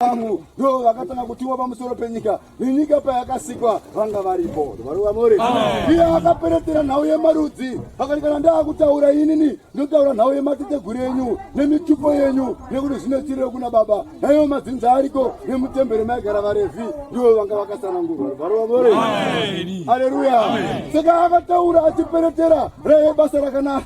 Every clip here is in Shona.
vangu ndo vakatanga kutiwa pamusoro penyika nenyika payakasikwa vanga varipo varuvamore iye akaperetera nhau yemarudzi akati kana ndaakutaura inini ndotaura nhau yemateteguru enyu nemitupo yenyu nekuti zvinotiriro kuna baba naiwo madzinza ariko nemutembere maigara varevhi ndivo vanga vakasanangurwa varuvamore aleluya saka akataura achiperetera raive basa rakanaka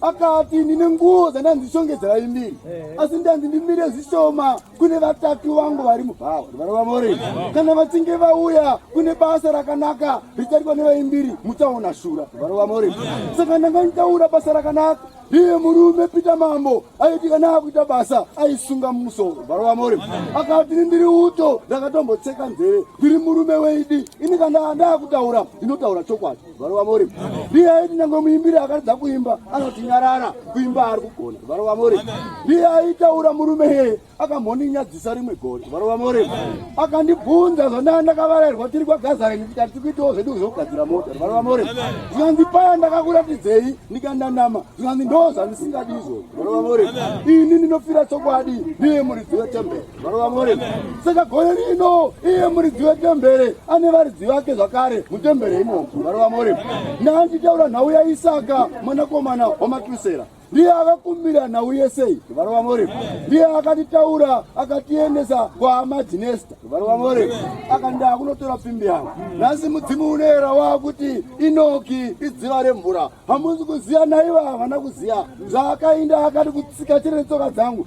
akati ndine nguo dzandanzi shongedzera imbiri asi ndanzi ndimire zvishoma kune vataki vangu vari mubhawa varova more kana vachinge vauya kune basa rakanaka richaitwa nevaimbiri muchaona shura varova more saka ndanga nditaura basa rakanaka iye murume pita mambo aiti kana akuita basa aisunga musoro varova more akati ndiri uto ndakatombotseka nzeve ndiri murume weidi ini kana ndakutaura ndinotaura chokwadi Varo vamori. Ndiye aiti nyangwe muimbiri akaridza kuimba anoti nyarara kuimba ari kugona. Varo vamori. Ndiye aitaura murume heye akamhoninyadzisa rimwe gore. Varo vamori. Akandibvunza zvandanga ndakavarairwa tiri kwagazaini tikati tikuitawo zvedu zvokugadzira mota. Varo vamori. Zvikanzi paya ndakakuratidzei ndikandanama. Zvikanzi ndoo zvandisingadi izvozvo. Varo vamori. Ini ndinofira chokwadi ndiye muridzi wetemberi. Varova Mwari, saka gore rino iye muridzi wetembere ane varidzi vake zvakare mutembere imomo. Varova Mwari, naandichaura nhau yaIsaka mwanakomana wamatusera ndiye akakumbira nhau yesei varova more ndiye akatitaura akatiendesa kwahama dzinesta varova more akandaa kunotora pfimbi yangu nhasi mudzimu unoera wakuti inoki idziva remvura hamuzi kuziva naiva havana kuziva zvaakainda akati kutsika chiri netsoka dzangu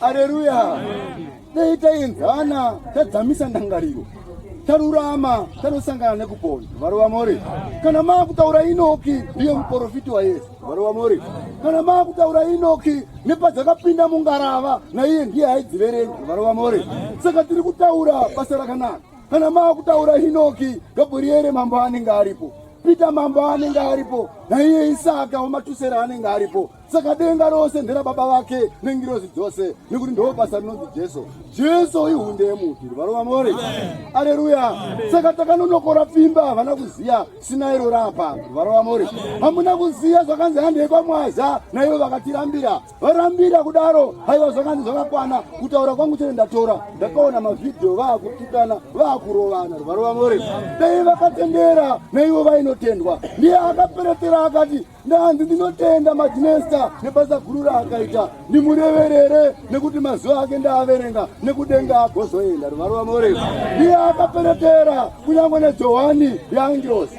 Haleluya. Dai taenzana tadzamisa ndangariro tarurama tanosangana nekupona varova mori kana maakutaura inoki ndiye muporofiti wayesu varova mori kana maakutaura inoki nepadzakapinda mungarava naiye ndiye aidziverenga varova mori saka tiri kutaura basa rakanaka Kana maakutaura Hinoki, Gabriere mambo anenge aripo. Pita mambo anenge aripo naiye isaka wematusera anenge aripo saka denga rose ndera baba vake nengirozi dzose nekuti ndoo basa rinonzi jesu jesu ihunde yemuti varova more aleluya saka takanonokora pfimba havana kuziva sina iro rapa varova more hamuna kuziva zvakanzi handei kwamwaza naivo vakatirambira varambira kudaro haiwa zvakanzi zvakakwana kutaura kwangu chete ndatora ndakaona mavhidhiyo vaakutukana vaakurovana rwarova more dai vakatendera naivo vainotendwa ndiye akaperetera akati ndanzi ndinotenda madinesta nebasa guru raakaita ndimureverere nekuti mazuva ake ndaaverenga nekudenga agozoenda rwarova more ndiye akaperetera kunyange nejohani yaangirosi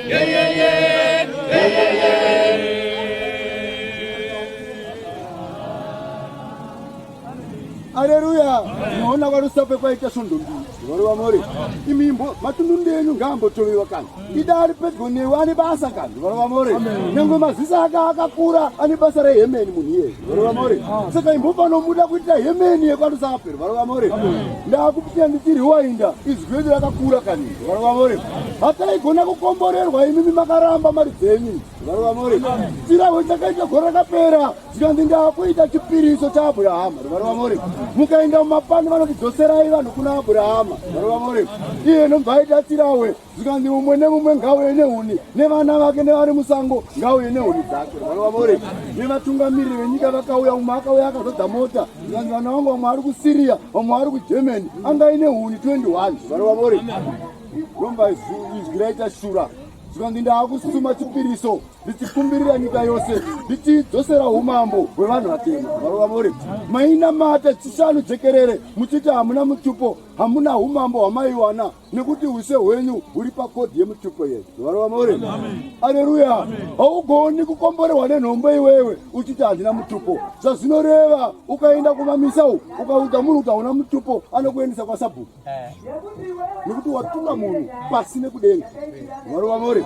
Aleluya! Naona varusape kwaita svondo mbiri vari vamore imi imbo matundundi enyu ngaambotovewa kani ida ari pedyo newe ane basa kani vari vamore nyange maziso ake akakura ane basa rehemeni munhu iyeye vari vamore saka imbofanomuda kuitira hemeni yekwarusape vari vamore ndaakupitia nditiri wainda izwi redu rakakura kani varivamore hataigona kukomborerwa imimi makaramba mari dzenyu varivamore chirahwe chakaita gore rakapera zvikanzi ndaakuita chipiriso chaabhurahama varivamore mukaenda mumapani vanotidzoserai vanhu kuna abhurahama varivamore iye nomvaita chirahwe zvikanzi mumwe nemumwe ngauye nehuni nevana vake nevari musango ngauye nehuni dzake varivamore nevatungamiriri venyika vakauya umwe akauya akazodza mota Zvanzi vana vangu vamwe ari kuSyria, vamwe ari kuGermany, anga ine huni 21. Vana vavori. Romba izwi raita shura. Zvanzi ndaakusuma chipiriso ndichikumbirira nyika yose ndichidzosera umambo hwevanhu vatema. Vana vavori. Maina mata chishanu jekerere muchiti hamuna mutupo, hamuna umambo hwamaiwana. nekuti use hwenyu huri pakodhi yemutupo yedu varo vamore aleluya haugoni kukomborerwa nenhombo iwewe uchiti handina mutupo zvazvinoreva ukaenda kumamisa u ukaudza munhu kuti hauna mutupo anokuendesa kwasabhuku nekuti watuka munhu pasi nekudenga varo vamore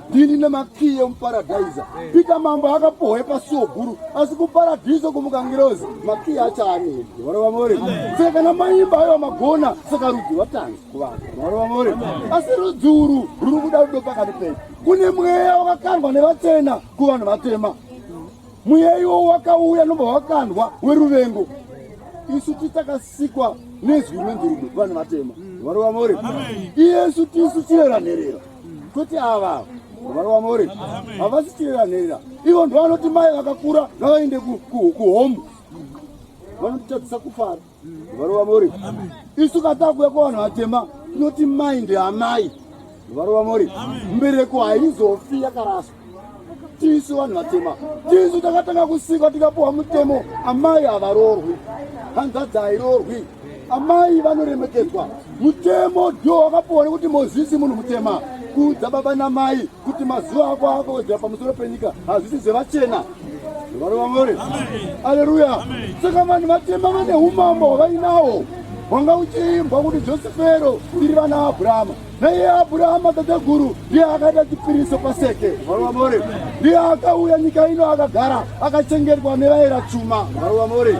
ndini nemakiye muparadhaiza pita mambo akapohwe pasuo guru asi kuparadhiso kumukangirozi makiye achaanedi varova more saka kana maimba ayo magona saka rudzi vatanzi kuvanhu varova more asi rudzi uru ruri kuda rudo pakati pedu kune mweya wakakandwa nevatena kuvanhu vatema mweya iwo wakauya nobva wakandwa weruvengo isu titakasikwa nezwi rinonzi rudo kuvanhu vatema varova more iyesu tisu chirera nherera kuti ava mwana wamori havasi chiranherera ivo ndo vanoti mai vakakura ngavaende kuhomu vanotitadzisa kufara mwana wamori isu katakuya kwavanhu vatema tinoti mai ndeamai mwana wamori mbereko haizofi yakaraswa tisu vanhu vatema tisu takatanga kusikwa tikapuwa mutemo amai havarorwi hanzvadzi hairorwi amai vanoremekedzwa mutemo dio wakapuwa nekuti mozisi munhu mutema kuudza baba namai kuti mazuva ako akawedzera pamusoro penyika hazvisi zvevachena vano vamore aleluya saka vanhu vatema vane umambo hwavainawo hwanga uchiimbwa kuti josefero tiri vana abrahama naiye Abrahama tateguru ndiye akaita chipiriso paseke varuva more ndiye akauya nyika ino akagara akachengetwa nevaera chuma varuva more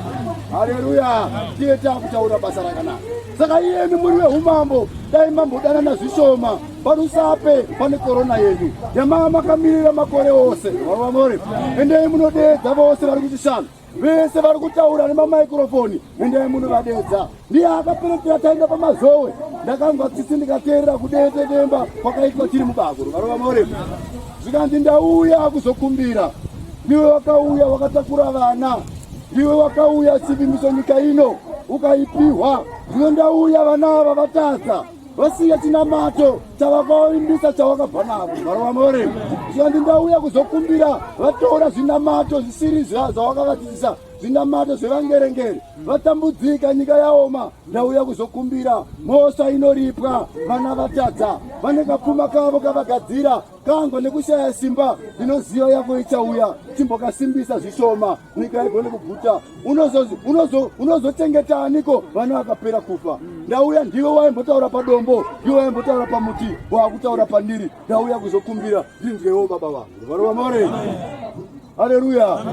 haleluya ndiye taakutaura basa rakanaka saka iyeni muri veumambo dai mambodanana zvishoma parusape pane korona yenyu yamaa makamirira makore ose varuva more endei munodeedza vose vari kuchishanu vese vari kutaura nemamaikrofoni endai munovadedza ndiye akaperekera taenda pamazowe ndakanzwa tsitsi ndikateerera kudetetemba kwakaitwa tiri mubakuru varova more zvikanzi ndauya kuzokumbira ndiwe wakauya wakatakura vana ndiwe wakauya chivimbiso nyika ino ukaipihwa zvino ndauya vana ava vatadza vasiya chinamato chavakavimbisa chavakabva navo varovamore zvikanzi ndauya kuzokumbira vatora zvinamato zvisiri zvavakavadzidzisa zvinamato zvevangerengere vatambudzika nyika yaoma ndauya kuzokumbira mhosva inoripwa vana vatadza vane kapfuma kavo kavagadzira kango nekushaya simba ndinoziva yako ichauya chimbokasimbisa zvishoma nyika haigone kuguta unozochengeta aniko vana vakapera kufa ndauya ndiwe waimbotaura padombo ndiwe waimbotaura pamuti waakutaura pandiri ndauya kuzokumbira ndinzwewo baba vangu varova more haleluya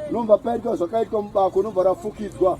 unomva paitwa zvakaitwa mubako unomva rafukidzwa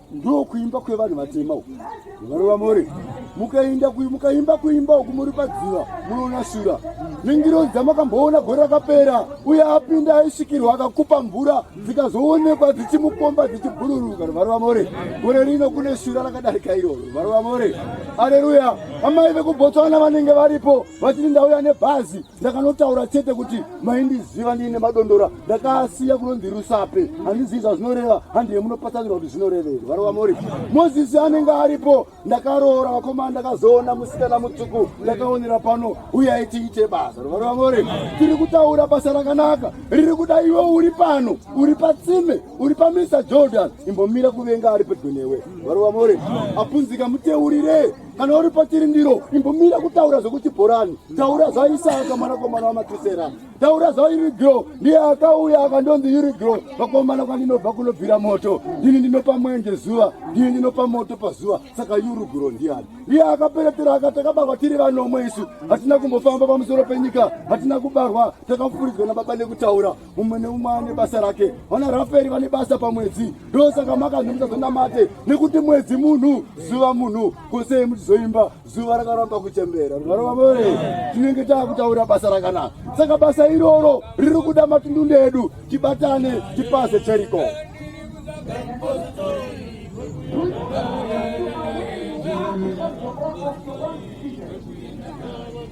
ndo kuimba kwevanhu vatema uku varova more mukainda mukaimba kuimba uku muri padziva munoona shura ningirozi dzamakamboona gore rakapera uye apinda aisvikirwa akakupa mvura dzikazoonekwa dzichimukomba dzichibhururuka varova more gore rino kune shura rakadarika iroro varova more aleluya amai vekubotswana vanenge varipo vachiri ndauya nebhazi ndakanotaura chete kuti maindiziva ndiine madondora ndakasiya kunonzi rusape handizivi zvazvinoreva handiye munopatsanirwa kuti zvinorevei varova mori mozisi anenge aripo ndakaroora vakomana ndakazoona musikana mutsuku ndakaonera pano uye aitiite basa varova mori tiri kutaura basa rakanaka riri kuda iwe uri pano uri patsime uri pamisa jordan imbomira kuvenga ari pedyo newe varova mori apunzika muteurire kana uri patiri ndiro imbomira kutaura zvekuti bhorani taura zvaisaka mwanakomana wamatisera taura zvairigro ndiye akauya akandonzi irigro vakomana kwandinobva kunobvira moto ndini ndinopa mwenje zuva ndini ndinopa moto pazuva saka yurugro ndiani ndiye akaperetera akati akabarwa tiri vanomwe isu hatina kumbofamba pamusoro penyika hatina kubarwa takafuridzwa nababa nekutaura umwe neumwe ane basa rake vana raferi vane basa pamwedzi ndosaka makanzi musazonamate nekuti mwedzi munhu zuva munhu kosei muchizoimba zuva rakaramba kuchembera varomavore tinenge taakutaura basa rakanaka saka basa iroro riri kuda matundundu edu tibatane tipaze cheriko Thank you.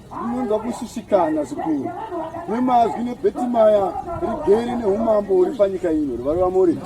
Unonzwa kushushikana zvikuru nemazwi nebetimaya rigere neumambo huri panyika ino rivari vamori.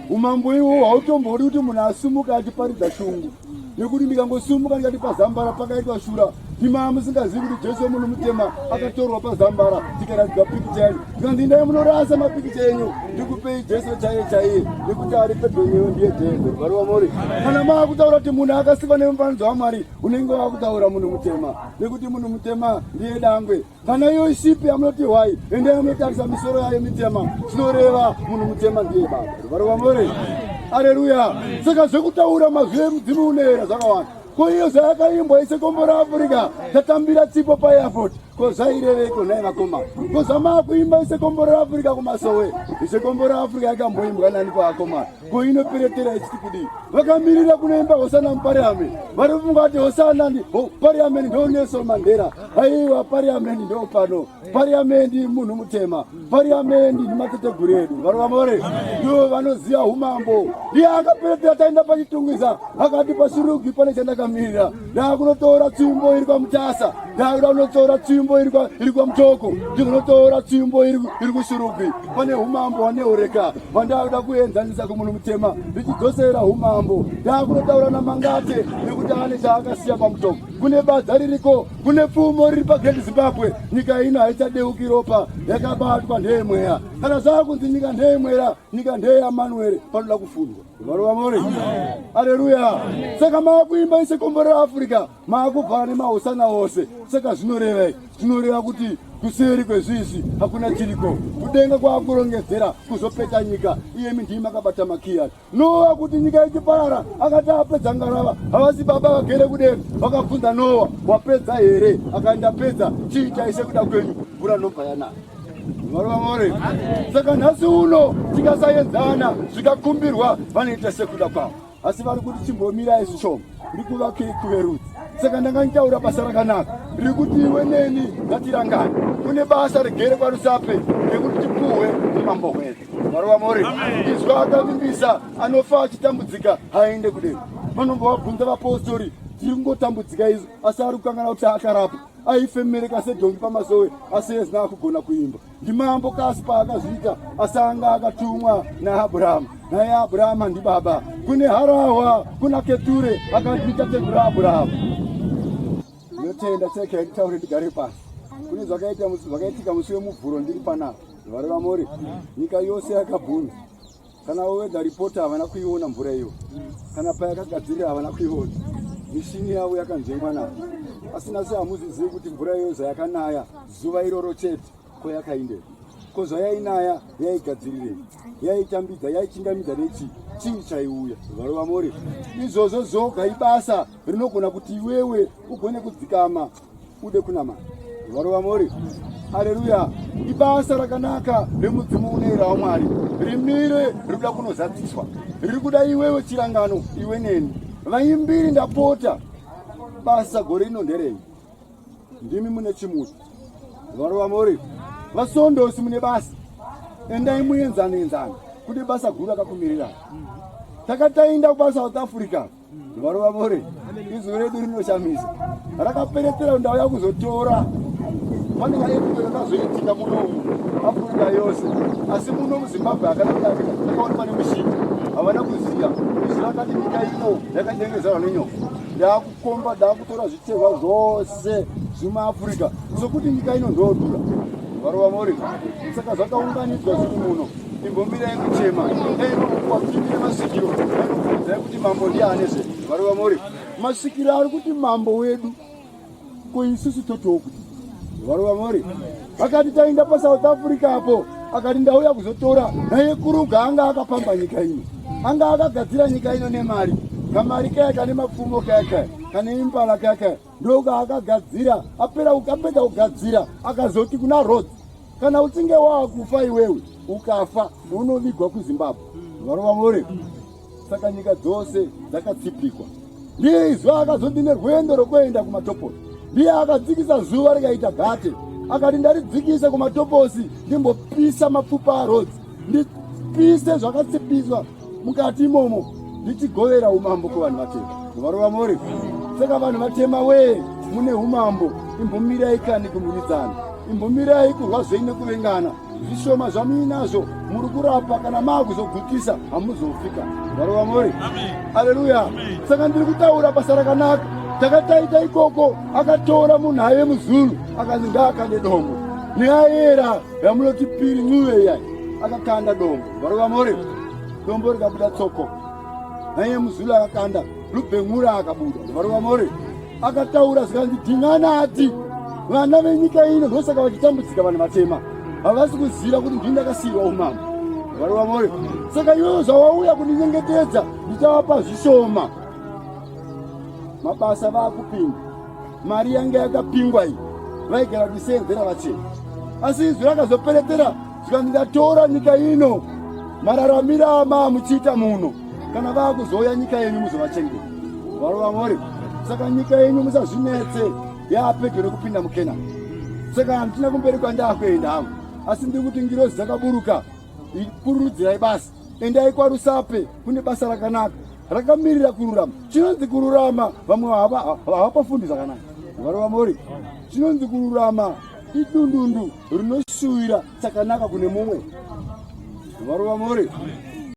Umambo iwo hautombodi kuti munhu asumuka achiparidza shungu nekuti ndikangosumuka ndikati pazambara pakaitwa shura imaa musingazivi kuti jesu wemunhu mutema akatorwa pazambara tikaradzwa pikicha yenyu zvikanzi indai munorasa mapikicha enyu ndikupei jesu chaiye chaiye nekuti ari pedonyewe ndiye jesu varova mori kana maakutaura kuti munhu akasikwa nemufananidzo wamwari unenge wakutaura munhu mutema nekuti munhu mutema ndiye dangwe kana iyo shipi yamunoti hwai ende yamunotarisa misoro yayo mitema zvinoreva munhu mutema ndiye baba varova more aleluya saka zvekutaura mazwi emudzimu unoera zvakawanda ko iyo zvayakaimbwa isekombora afrika tatambira tsipo paairport ko zvaireveko nhai vakoma ko zvamaakuimba isekombora afrika kumasowe isekombora afrika yakamboimbwa nani paakomana ko inoperetera isiti kudii vakamirira kunoimba hosana mupariameni vari kufunga kuti hosana pariameni ndo nelson mandera aiwa pariameni ndo pano pariameni munhu mutema pariameni ndimateteguru edu varovamore ndo vanoziva umambo ndiye akaperetera taenda pachitungwiza akati pasurugi pane chandakamirira ndakunotora tsvimbo iri kwamutasa ndakuda kunotora tsvimbo iri kwamutoko ndikunotora tsvimbo iri kushurugwi pane umambo waneureka vandakuda kuenzanisa kumunhu mutema ndichidzosera umambo ndakunotaura namangate nekuti ane chaakasiya pamutoko kune badza ririko kune pfumo riri pagreat zimbabwe nyika ino haichadeukiri ropa yakabatwa ndeyemweya kana zvava kunzi nyika ndeyemwera nyika ndeyamanuere panoda kufundwa Mwari wamore. Haleluya. Saka maakuimba ise komborera Africa, maakubva ane mahosana ose. Saka zvinoreva, zvinoreva kuti kuseri kwezvizvi hakuna chiriko kudenga kwakurongedzera kuzopeta nyika iyemi ndii makabata makiya noa kuti nyika ichiparara akati apedza ngarava havasi baba vagere kudenga vakabvunza noa wapedza here akandapedza chiitai sekuda kwenyu mvura nobva yanaya Varovamore. Saka nhasi uno tikasaenzana zvikakumbirwa vanoita sekuda kwavo. Asi vari kuti chimbomirai zvishoma. Ndiri kuvakei kuverudzi. Saka ndanga nditaura basa rakanaka. Ndiri kuti iwe neni ngatirangane. Kune basa regere kwarusape rekuti tipuhwe nemambo hwedu. Varovamore. Izwa akavimbisa anofa achitambudzika haende kudero. Vanombovabvunza vapostori tiri kungotambudzika izvo asi ari kukangana kuti akarapa. aifemereka sedhongi pamasowe asi ezina akugona kuimba ndimambo kasi paakazviita asi anga akatumwa naabhurahamu naye abhurahamu handi baba kune harahwa kuna keture akandiita tekura abhurahamu ndinotenda cheke yaitaure ndigare pasi kune zvakaitika musi wemuvhuro ndiri panapa vareva mori nyika yose yakabvunza kana wowedha ripoti havana kuiona mvura iyo kana payakagadzirira havana kuiona mishini yavo yakanzvengwa navo asina se hamuzizivi kuti mvura iyo zvayakanaya zuva iroro chete ko yakaindei ko zvayainaya yaigadzirirei yaitambidza yaichingamidza nechi chii chaiuya varova more izvozvo zvoga ibasa rinogona kuti iwewe ugone kudzikama ude kunama varova mori haleluya ibasa rakanaka remudzimu unoera wamwari rimire riri kuda kunozadziswa riri kuda iwewe chirangano iwe neni vaimbiri ndapota basa gore rino nderei ndimi mune chimuti varova mori vasondosi mune basa endai muenzanoenzana kuti basa guru akakumirira takatainda kubasa south africa varova vore izwi redu rinoshamisa rakaperetera kuti ndauya kuzotora pane maepuro akazoitika muno umu afurika yose asi muno muzimbabwe hakana kudarika akaona pane mushini havana kuziva izwi rakati nyika ino yakadengezarwa nenyoka ndaakukomba ndaakutora zvitehwa zvose zvemuafurika sokuti nyika ino ndoodura varova vore saka zvakaunganidzwa zviri muno imbomirai kuchema dai vakukwapindire masikiro vanokudai kuti mambo ndiye ane zve varova mori masikiro ari kuti mambo wedu ko isusu totiwo kuti varova mori akati tainda pasouth africa apo akati ndauya kuzotora naye kuruga anga akapamba nyika ino anga akagadzira nyika ino nemari kamari kaya kane mapfumo kaya kaya kane imbala kaya kaya ndoga akagadzira apera ukapedza kugadzira akazoti kuna rod kana uchinge waakufa iwewe ukafa unovigwa kuzimbabwe varova more saka nyika dzose dzakatsipikwa ndiye izvo akazoti nerwendo rwokuenda kumatoposi ndiye akadzikisa zuva rikaita gate akati ndaridzikise kumatoposi ndimbopisa mapfupa arodzi ndipise zvakatsipiswa mukati imomo ndichigovera umambo kuvanhu vatema varova mori saka vanhu vatema wee mune umambo imbomirai kani kumiridzana imbomirai kurwa zvei nekuvengana zvishoma zvamuinazvo muri kurapa kana maakuzogutisa hamuzofika varova mori aleluya saka ndiri kutaura basa rakanaka takataita ikoko akatora munhu aive muzulu akanzi ngaakande dombo neayera yamunoti piri nyuve iyai akakanda dombo Varova more dombo rikabuda tsoko naiye muzulu akakanda lubhengura akabuda varova more akataura zvikanzi dhingana ati vana venyika ino ndosaka vachitambudzika vanhu vatema havasi kuziva kuti ndini ndakasiyiwa umama varova more saka iwewo zvawauya kundinyengetedza ndichavapa zvishoma mabasa vaakupinda mari yange yakapingwa iyi vaigara kusenzera vachena asi izwi rakazoperetera zvikanzi ndatora nyika ino mararamira amaa muchiita muno kana vaakuzouya nyika yenyu muzovachengeta varo vamori saka nyika yenyu musazvinetse yaapedyo rekupinda mukena saka handina kumberi kwandakuenda hangu asi ndiri kuti ngirozi dzakaburuka kururudzirai basa endai kwarusape kune basa rakanaka rakamirira kururama chinonzi kururama vamwe havapafundi zvakanaka varo vamori chinonzi kururama idundundu rinosuwira chakanaka kune mumwe varova more